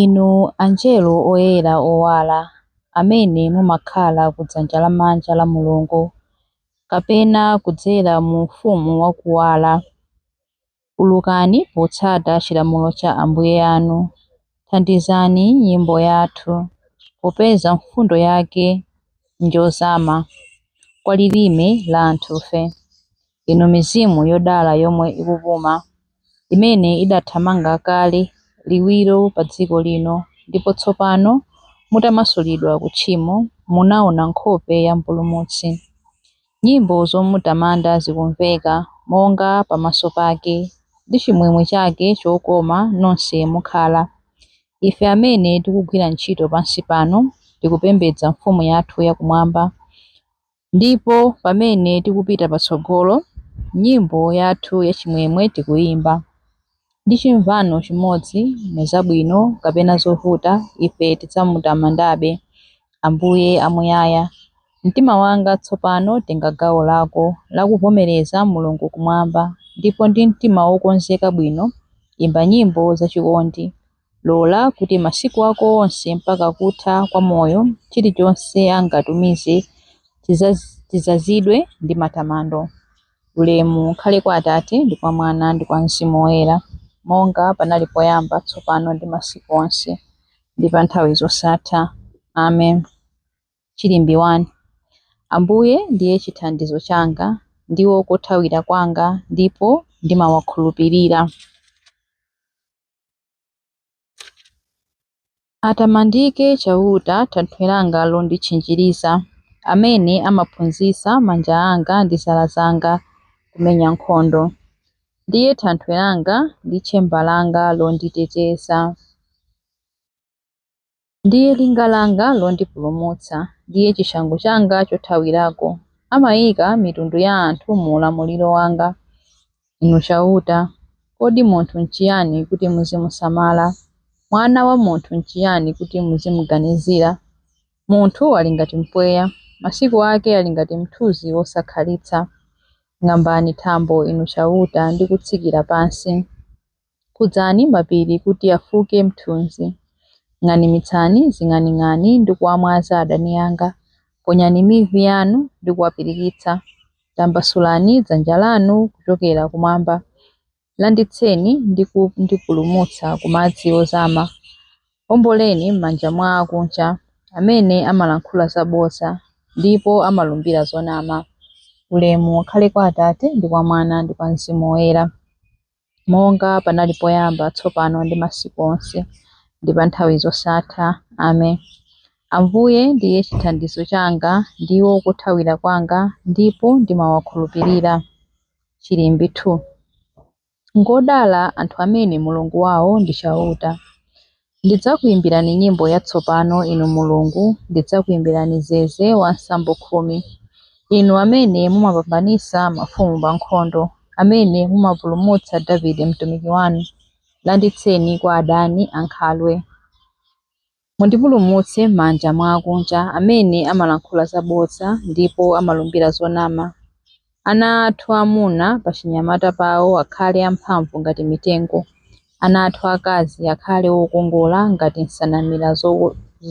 Inu angelo oyera owala amene mumakhala ku dzanja lamanja la Mulungu, kapena kudzera mu Ufumu wa Kuwala, ulukani potsata chilamulo cha Ambuye anu. Thandizani nyimbo yathu, popeza mfundo yake njozama kwa lilime la anthufe. Inu mizimu yodala yomwe ikupuma, imene idathamanga kale liwiro padziko lino ndipo tsopano mutamasulidwa ku tchimo munaona nkhope ya Mpulumutsi, nyimbo zomutamanda zikumveka monga pamaso pake ndi chimwemwe chake chokoma nonse mukhala. Ife amene tikugwira ntchito pansi pano tikupembedza Mfumu yathu yakumwamba. Ndipo pamene tikupita patsogolo, nyimbo yathu yachimwemwe tikuyimba, ndi chimvano chimodzi, mu zabwino kapena zovuta, ife tidzamutamandabe Ambuye Amuyaya. Mtima wanga tsopano tenga gawo lako la kuvomereza Mulungu Kumwamba, ndipo ndi mtima wokonzeka bwino imba nyimbo zachikondi. Lola kuti masiku ako onse mpaka kutha kwa moyo chilichonse angatumize chidzazidwe ndi matamando. Ulemu ukhale kwa Atate, ndi kwa Mwana, ndi kwa Mzimu Woyera, monga panali poyamba, tsopano ndi masiku onse, ndi pa nthawi zosatha. Amen. Chilimbi 1 Ambuye ndiye chithandizo changa, ndiwo kothawira kwanga, ndipo ndimawakhulupirira. Atamandike Chauta, thanthwe langa londitchinjiriza, amene amaphunzitsa manja anga ndi zala zanga kumenya nkhondo. Ndiye thanthwe langa ndi tchemba langa londiteteza. Ndiye linga langa londipulumutsa, ndiye chishango changa chothawirako. Amaika mitundu ya anthu mu ulamuliro wanga. Inu Chauta, kodi munthu nchiyani kuti muzimusamala? Mwana wa munthu nchiyani kuti muzimuganizira? Munthu ali ngati mpweya, masiku ake ali ngati mthunzi wosakhalitsa. Ng'ambani thambo, Inu Chauta, ndi kutsikira pansi. Khudzani mapiri kuti afuke mthunzi. Ng'animitsani zing'aning'ani ndi kuwamwaza adani anga. Ponyani mivi yanu ndi kuwapirikitsa. Tambasulani dzanja lanu kuchokera kumwamba. Landitseni ndi kundipulumutsa ku madzi ozama. Omboleni m'manja mwa akunja, amene amalankhula zabodza ndipo amalumbira zonama. Ulemu ukhale kwa Atate, ndi kwa Mwana, ndi kwa Mzimu Woyera. monga panali poyamba, tsopano, ndi masiku onse, ndi pa nthawi zosatha. Amen. Ambuye ndiye chithandizo changa, ndiwo kothawira kwanga, ndipo ndimawakhulupirira. Chilimbi 2. Ngodala anthu amene Mulungu wawo ndi Chauta. Ndidzakuimbirani nyimbo yatsopano, inu Mulungu, ndidzakuimbirani zeze wa nsambo khumi. Inu amene mumapambanitsa mafumu pa nkhondo, amene mumapulumutsa Davide mtumiki wanu, landitseni kwa adani ankhalwe. Mundipulumutse m'manja mwa akunja, amene amalankhula zabodza ndipo amalumbira zonama. Ana athu amuna pachinyamata pawo akhale amphamvu ngati mitengo, ana athu akazi akhale okongola ngati nsanamira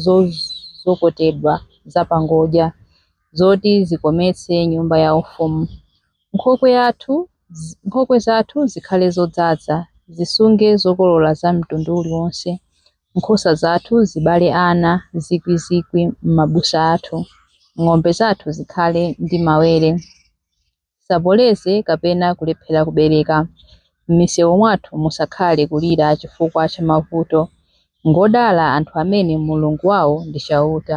zozokotedwa zapangodya, zoti zikometse nyumba yaufumu. Nkhokwe zathu zikhale zodzaza, zisunge zokolola za mtundu uliwonse, Nkhosa zathu zibale ana zikwizikwi m'mabusa athu. Ng'ombe zathu zikhale ndi mawere. Zisapoloze kapena kulephera kubereka. M'misewu mwathu musakhale kulira chifukwa cha mavuto. Ngodala anthu amene Mulungu wawo ndi Chauta.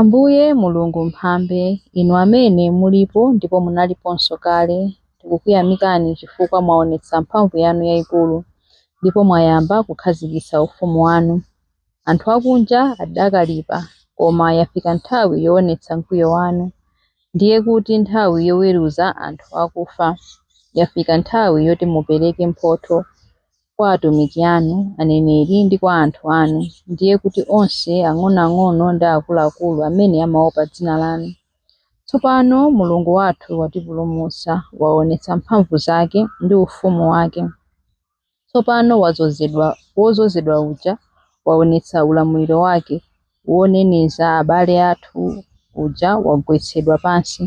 Ambuye Mulungu Mphambe, Inu amene mulipo ndipo munaliponso kale, tikukuyamikani chifukwa mwaonetsa mphamvu yanu yaikulu ndipo mwayamba kukhazikitsa ufumu wanu. Anthu akunja adakalipa, koma yafika nthawi yoonetsa mkwiyo wanu, ndiye kuti nthawi yoweruza anthu akufa. Yafika nthawi yoti mupereke mphotho kwa atumiki anu, aneneri, ndi kwa anthu anu, ndiye kuti onse ang'onoang'ono ndi akuluakulu amene amaopa dzina lanu. Tsopano Mulungu wathu watipulumutsa, waonetsa mphamvu zake ndi ufumu wake. Tsopano wadzozedwa, wodzozedwa uja waonetsa ulamuliro wake, woneneza abale athu uja wagwetsedwa pansi,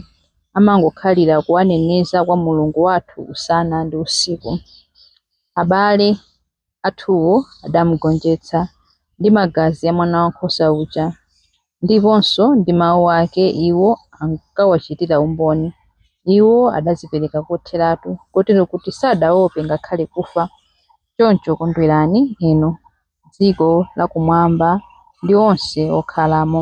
amangokhalira kuwaneneza kwa Mulungu wathu usana ndi usiku. abale athuwo adamugonjetsa ndi magazi a Mwanawankhosa uja, ndiponso ndi mau ake iwo ankawachitira umboni. Iwo adadzipereka kotheratu, kotero kuti sadaope ngakhale kufa. Choncho kondwerani inu, dziko lakumwamba ndi onse okhalamo.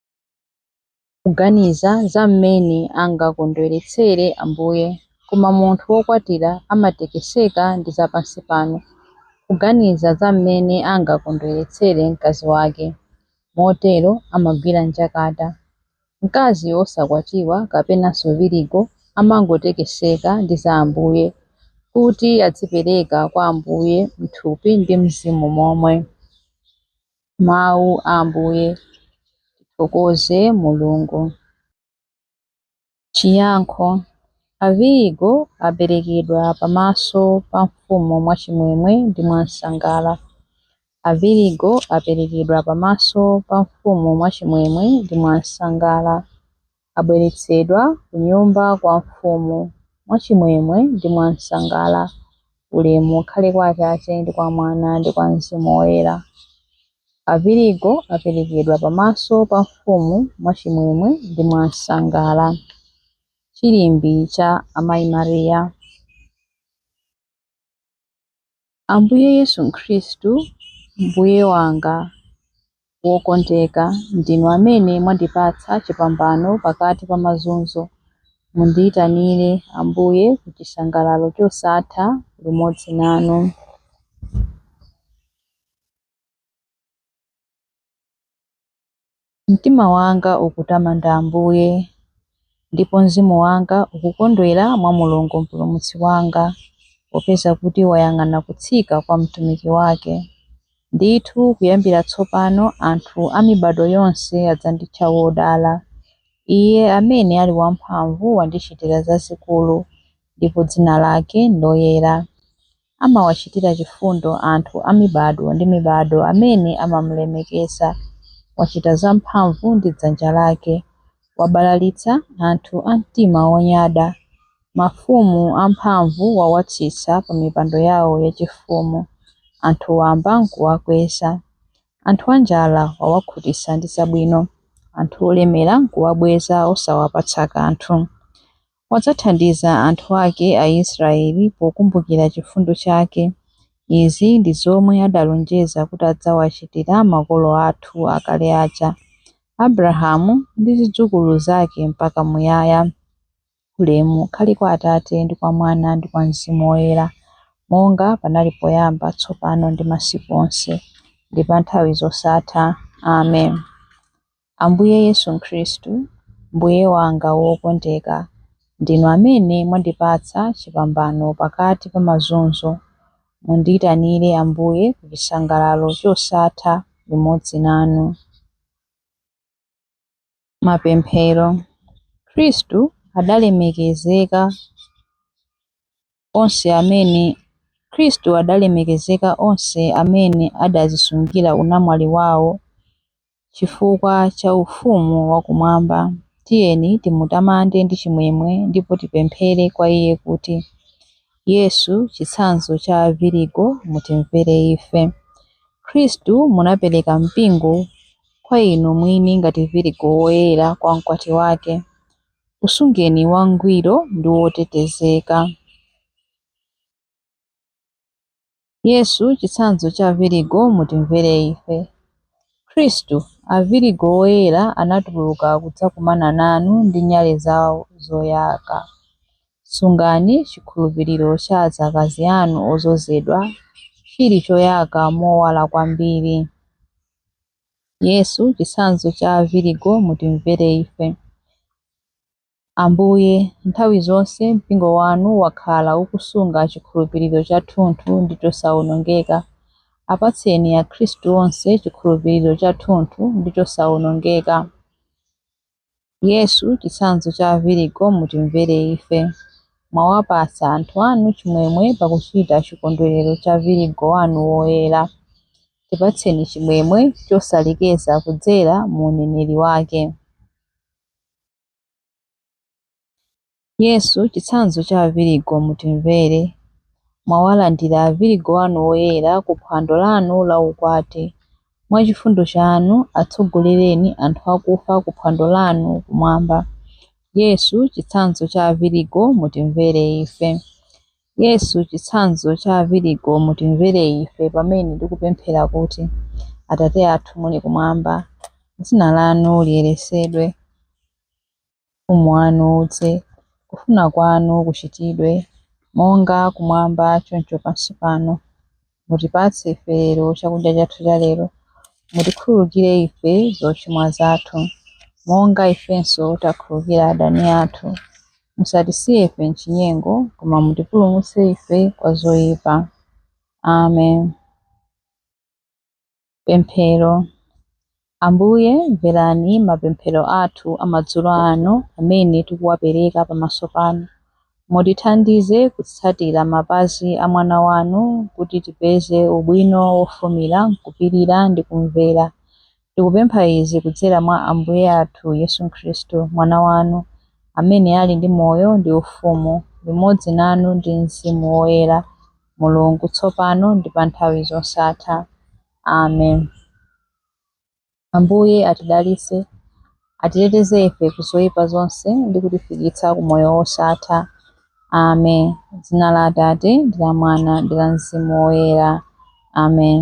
kuganiza za mmene angakondweretsere Ambuye, koma munthu wokwatira amatekeseka ndi zapansipano, kuganiza za mmene angakondweretsere mkazi wake. Motero amagwira njakata. Mkazi wosakwatiwa kapenanso virigo amangotekeseka ndi za Ambuye, kuti adzipereka kwa Ambuye m'thupi ndi mzimu momwe. mawu a Ambuye. Tithokoze Mulungu! Chiyankho, Avirigo aperekedwa pamaso pa mfumu mwachimwemwe ndi mwansangala. Avirigo aperekedwa pamaso pa mfumu mwachimwemwe ndi mwansangala. abweretsedwa kunyumba kwa mfumu mwachimwemwe ndi mwansangala. Ulemu ukhale kwa Atate, ndi kwa Mwana, ndi kwa Mzimu Woyera. Avirigo aperekedwa pamaso pa mfumu mwachimwemwe ndi mwansangala. Chilimbi cha Amayi Maria. Ambuye Yesu Khristu, Mbuye wanga wokondeka, ndinu amene mwandipatsa chipambano pakati pa mazunzo. Mundiitanire, Ambuye, ku chisangalalo chosatha limodzi nanu. Mtima wanga ukutamanda Ambuye, ndipo mzimu wanga ukukondwera mwa Mulungu Mpulumutsi wanga, popeza kuti wayang'ana kutsika kwa mtumiki wake. Ndithu kuyambira tsopano anthu a mibado yonse adzanditcha wodala. Iye amene ali wamphamvu wandichitira zazikulu, ndipo dzina lake ndoyera. amawachitira chifundo anthu a mibado ndi mibado amene amamulemekeza. Wachita zamphamvu ndi dzanja lake, wabalalitsa anthu a mtima wonyada. Mafumu amphamvu wawatsitsa pa mipando yao yachifumu, anthu wamba nkuwakweza. Anthu anjala wawakhutitsa ndi zabwino, anthu olemera nkuwabweza osawapatsa kanthu. Wadzathandiza anthu ake Aisraeli pokumbukira chifundo chake. Izi ndi zomwe adalonjeza kuti adzawachitira makolo athu akale aja, Abrahamu ndi zidzukulu zake mpaka muyaya. Ulemu ukhale kwa Atate, ndi kwa Mwana, ndi kwa Mzimu Woyera, monga panali poyamba, tsopano ndi masiku onse, ndi pa nthawi zosatha. Amen. Ambuye Yesu Khristu, Mbuye wanga wokondeka, ndinu amene mwandipatsa chipambano pakati pa mazunzo. Mundiitanire, Ambuye, ku chisangalalo chosatha limodzi nanu. Mapemphero. Khristu adalemekezeka amene Khristu adalemekezeka onse amene adazisungira unamwali wawo chifukwa cha ufumu wa kumwamba tiyeni timutamande ndi chimwemwe ndipo tipemphere kwa iye kuti Yesu chitsanzo cha avirigo mutimvere ife Khristu munapereka mpingo kwa inu mwini ngati virigo woyera kwa mkwati wake Usungeni wangwiro ndi wotetezeka. Yesu, chitsanzo cha Avirigo, mutimvere ife. Khristu, Avirigo oyera anatuluka kudzakumana nanu ndi nyale zawo zoyaka. Sungani chikhulupiriro cha adzakazi anu odzozedwa chili choyaka mowala kwambiri. Yesu, chitsanzo cha avirigo, mutimvere ife. Ambuye, nthawi zonse mpingo wanu wakhala ukusunga chikhulupiriro chathunthu ndi chosaonongeka. Apatseni akhristu onse chikhulupiriro chathunthu ndi chosaonongeka. Yesu, chitsanzo cha avirigo, mutimvere ife. Mwawapatsa anthu anu chimwemwe pakuchita chikondwerero cha virigo wanu woyera. Tipatseni chimwemwe chosalekeza kudzera mu uneneri wake. Yesu, chitsanzo cha avirigo mutimvere, mwawalandira avirigo anu oyera ku phwando lanu la ukwati, mwa chifundo chanu atsogolereni anthu akufa ku phwando lanu kumwamba. Yesu, chitsanzo cha avirigo mutimvere ife. Yesu, chitsanzo cha avirigo mutimvere ife pamene ndikupemphera kuti, Atate athu muli kumwamba, dzina lanu liyeresedwe. Ufumu wanu udze. Kufuna kwanu kuchitidwe, monga kumwamba choncho pansi pano. Mutipatse ife lero chakudya chathu cha lero. Mutikhululukire ife zochimwa zathu, monga ifenso takhululukira adani athu. Musatisiye ife m'chinyengo, koma mutipulumutse ife kwa zoyipa. Amen. Pemphero. Ambuye, mverani mapemphero athu amadzulo ano amene tikuwapereka pamaso panu. Mutithandize kutsatira mapazi a Mwana wanu kuti tipeze ubwino wofumira m'kupirira ndi kumvera. Tikupempha izi kudzera mwa Ambuye athu Yesu Khristu, Mwana wanu, amene ali ndi moyo ndi ufumu limodzi nanu ndi Mzimu Woyera. Mulungu, tsopano ndi pa nthawi zosatha. Amen. Ambuye atidalitse, atiteteze ife ku zoyipa zonse ndi kutifikitsa ku moyo wosatha. Amen. Dzina la Atate, ndi la Mwana, ndi la Mzimu Woyera. Amen.